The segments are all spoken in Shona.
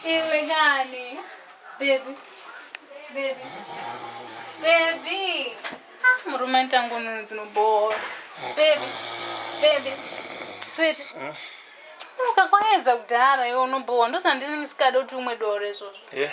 Iwe kani. Baby. Baby. Baby. Ah, murume ntango nono dzinobhowa. Baby. Baby. Sweet. Mm. Ukakwayedza kudhara iwe unobhowa ndozvandinenge sikada kuti umwe doro izvozvo. Yeah.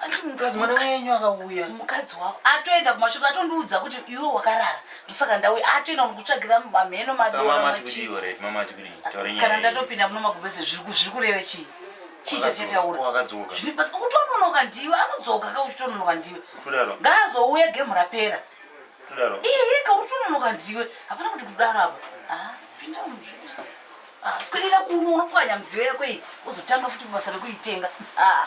Anditi munhu plus mwana wenyu akauya. Mukadzi wako atoenda kumashoto atondiudza kuti iwe wakarara. Ndosaka ndauya atoenda kutsvagira mamheno madora machi. Kana ndatopinda muno magubese zviri kureva chii? Chii chatitaura? Wakadzoka. Zviri basa kutononoka ndiwe anodzoka ka uchitononoka ndiwe. Kudaro. Ngaazouya game rapera. Kudaro. Iye ka uchitononoka ndiwe. Hapana kuti kudaro apa. Ah, pinda muzvibasa. Ah, sikwendera kuno unopwanya mudziyo yako iyi. Uzotanga futi basa rekuitenga. Ah.